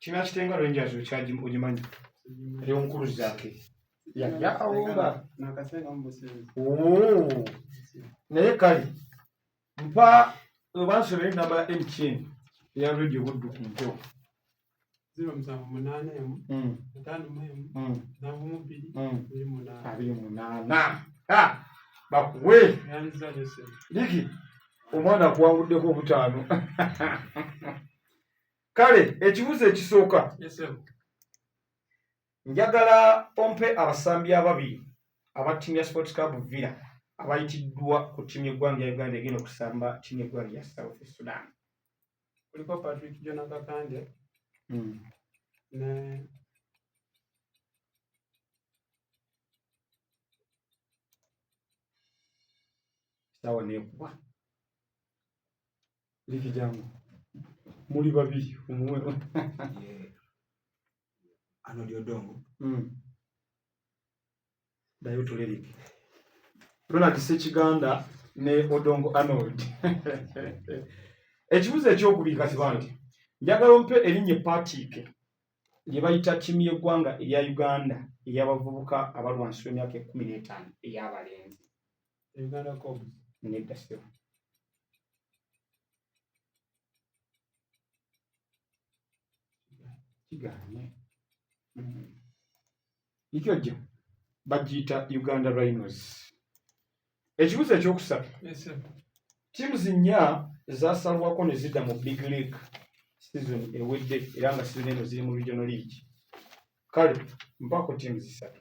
kina kitenga rangers okyaji ogimanyi eri omukulu zake yaya awumba naye kale mpa obansula enamba ya mtn eya radio buddu ku mpewo abiri munaana bakuwe liki omwana akuwanguddeko obutaano kale ekibuzo ekisooka njagala ompe abasambi ababiri aba timu ya sports club villa abayitiddwa ku timu yeggwanga ya uganda egenda okusamba timu yeggwanga ya south sudan kuliko patrick jona kakande hmm. ne sawa nekuba liki jangu muli babiri omuwe ano lyodongo mm. dayo tule liki ronald sekiganda ne odongo arnold ekibuzo ekyokubiri kati banti njagala ompe erinnya epaatiike lye bayita ttiimu y'eggwanga erya uganda ey'abavubuka abalwansi w'emyaka ekumi n'etaano ey'abalenzi Uganda Cobs. Nedda ssebo. Kigaanye. Mm. Ikyo jjo bagiyita Uganda Rhinos. Ekibuzo ekyokusatu. Yes, sir. Tiimu zinnya zaasalwako ne zidda mu Big League sizoni ewedde era nga sizoni eno ziri mu Regional League. Kale mpaako tiimu zisatu.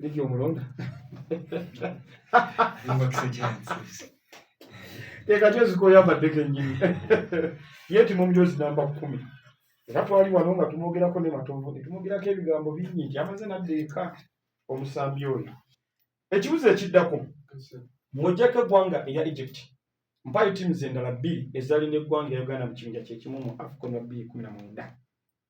Ligi omulonda tekati ezikoyambadde kenyini ye ti mumjozi namba kumi era twali wano nga tumwogerako ne matovu netumwogerako ebigambo bingi nti amaze nadda eka omusambi oyo ekibuzo ekiddako mwojjako eggwanga eya egypt mpayo tiimu zendala bbiri ezalina eggwanga ya uganda mu kibinja kyekimu mu afcon wa bbiri kumi na mwenda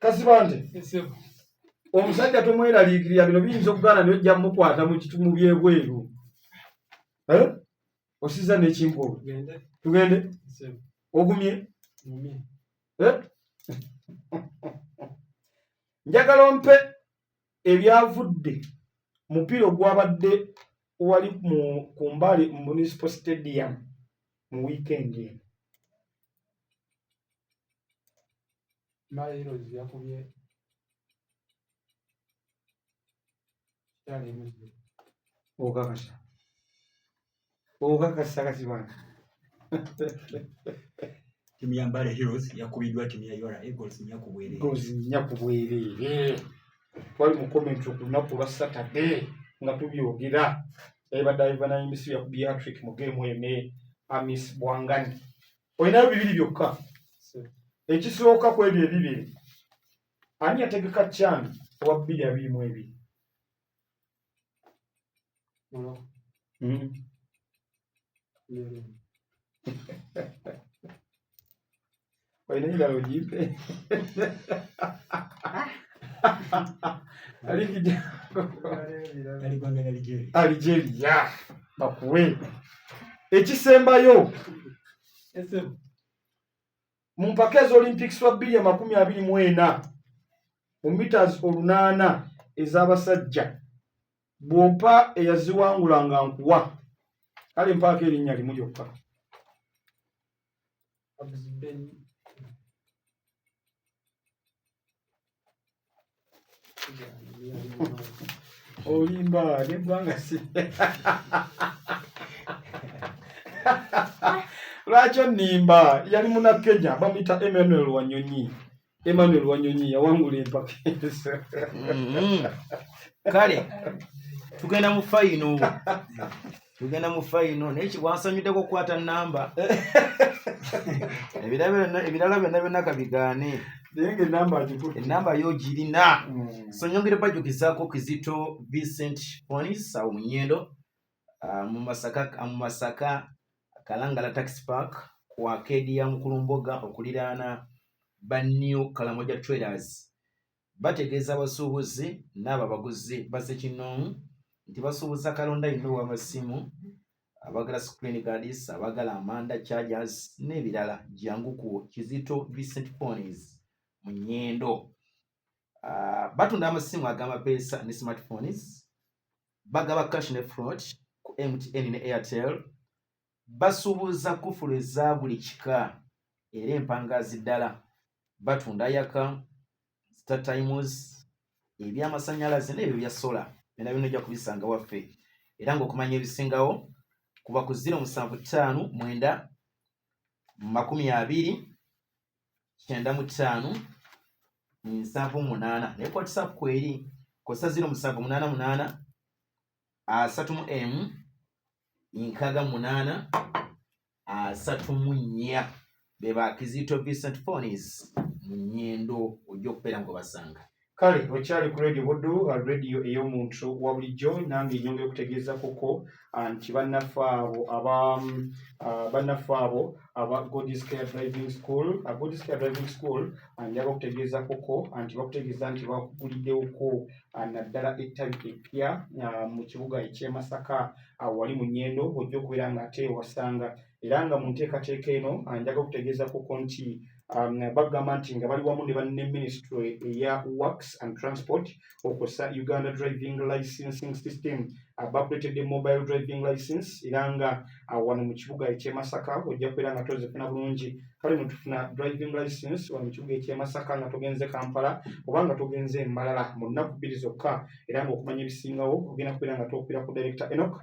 kasibante omusajja tomweraliikirira bino biyinza okugaana naye ojja mukwata mu byebweru eh? osiza nekinkoo tugende ogumye eh? njagala ompe ebyavudde mupiira ogwabadde wali ku mbali mu municipal stadium mu wiikendi eno Mala Erozi yakubye kitala emuzze okakasa okakasa kati bana timu ya Mbale Heroes yakubiddwa timu ya URA Eagles nnya ku bwereere goals nnya ku bwereere twali mu comment ku lunaku lwa saturday nga tubyogera ebadde ivanayimisi yakubye hatrik mu geemu ene amis bwangani olinayo bibiri byokka ekisooka ku ebyo ebibiri ani yategeka kyani owa bbiri abiri mu ebiri hmm. olina kirala ogimpe aligeria bakuwe ekisembayo mu mpaka eza olympics wa bbiri amakumi abiri mu ena mu mitas olunaana ez'abasajja bwompa eyaziwangula nga nkuwa kale mpaako erinnya limu lyokka olimba negwanga si lwaki onimba yali munakenya bamuyita emmanuel wanyonyi Emmanuel Wanyonyi yawangula empaka ezo. Mm-hmm. Kale tugenda mu fayino tugenda mu fayino naye kibwansanyuddeko okukwata namba ebirala byonna byonna kabigaane enamba yo girina mm. so nyongere bajukizaako kizito vincent onis awo munyendo Ah, mu masaka ah, mu masaka kalangala tax park ku akeedi ya mukulumboga okuliraana ba new kalamoja traders bategeeza abasuubuzi n'abo abaguzi baze kinoomu nti basuubuza kalonda yonna ow'amasimu abagala screen guards abagala amanda chargers n'ebirala jangu ku kizito vincent ponies mu nyendo uh, batunda amasimu agamapeesa ne smartphones bagaba cash ne front ku mtn ne airtel basuubuza kufulu eza buli kika era empangaazi ddala batunda yaka star times ebyamasanyalaze n'ebyo bya sola byona byona ojja kubisanga waffe era ngaokumanya ebisingawo kuba ku ziro musanvu ttaano mwenda makumi abiri kyenda mu ttaano nsavu munaana naye kwatisa kweri kosa ziro musavu munaana munaana asatu mu emu nkaga munaana asatu mu nnya be ba kizito vincent fonis mu nyendo ojja okubeera nga obasanga kale okyali ku radio buddu uh, radio ey'omuntu wa bulijjo nange enyongera okutegeeza kuko uh, nti bannaffe abo aba um, uh, bannaffe abo aba godiscare driving school godiscare driving school njaba okutegeeza kuko nti bakutegeeza nti bakuguliddewoko naddala ettabi eppya mu kibuga ekyemasaka wali mu nyendo ojja okubeera nga ate ewasanga era nga mu nteekateeka eno njaba okutegeeza kuko nti um, bagamba nti nga bali wamu ne banne ministry eya works and transport okosa uganda driving licensing system bakuletedde mobile driving license era nga uh, wano mu kibuga ekyemasaka ojja kubeera nga tozifuna bulungi kale netufuna driving license wano mu kibuga ekyemasaka nga togenze kampala oba nga togenze emalala mu nnaku bbiri zokka era nga okumanya ebisingawo ogenda kubeera nga tokubira ku director enok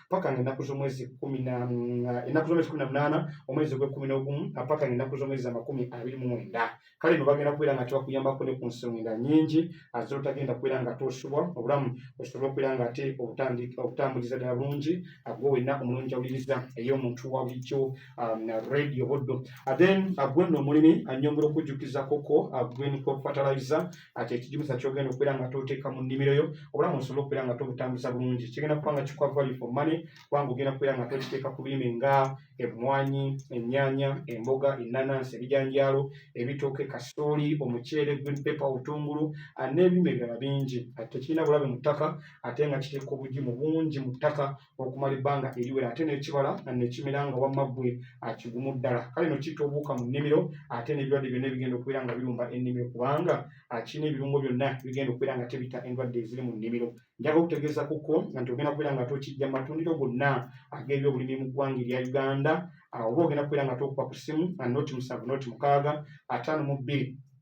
paka nga ennaku z'omwezi kumi na ennaku z'omwezi kumi na munaana omwezi ogw'ekkumi n'ogumu paka nga ennaku z'omwezi amakumi abiri mu mwenda kale no bagenda kubeera nga tebakuyambako ne ku nsonga nyingi azira otagenda kubeera nga tosubwa obulamu osobole okubeera nga ate obutambuliza ddala bulungi agwe wenna omulungi awuliriza ey'omuntu wa bulijjo um, radio boddo then agwe nno omulimi anyongera okujjukizakoko agwe niko fataliza ati ekigimusa kyogenda okubeera nga toteeka mu nnimiro yo obulamu osobole okubeera nga tobutambuza bulungi kigenda kuba nga kikuwa value for money kubanga ogenda kubeera nga tokiteeka ku birime nga emmwanyi ennyaanya emboga ennanansi ebijanjaalo ebitooke kasooli omuceere green paper obutungulu n'ebirime ebirala bingi ati tekirina bulabe mu ttaka ate nga kiteeka obugimu bungi mu ttaka okumala ebbanga eriwera ate n'ekibala nekimera nga wamma ggwe akigumu ddala kale no kitta obuwuka mu nnimiro ate n'ebirwadde byonna ebigenda okubeera nga birumba ennimiro kubanga kirina ebirungo byonna bigenda okubeera nga tebita endwadde eziri mu nnimiro njaga okutegeeza kuko nti ogenda kubeera nga tokijja mu matundiro gonna ag'ebyobulimi mu ggwanga erya uganda oba ogenda kubeera nga tokuba ku ssimu noti musanvu noti mukaaga ataano mu bbiri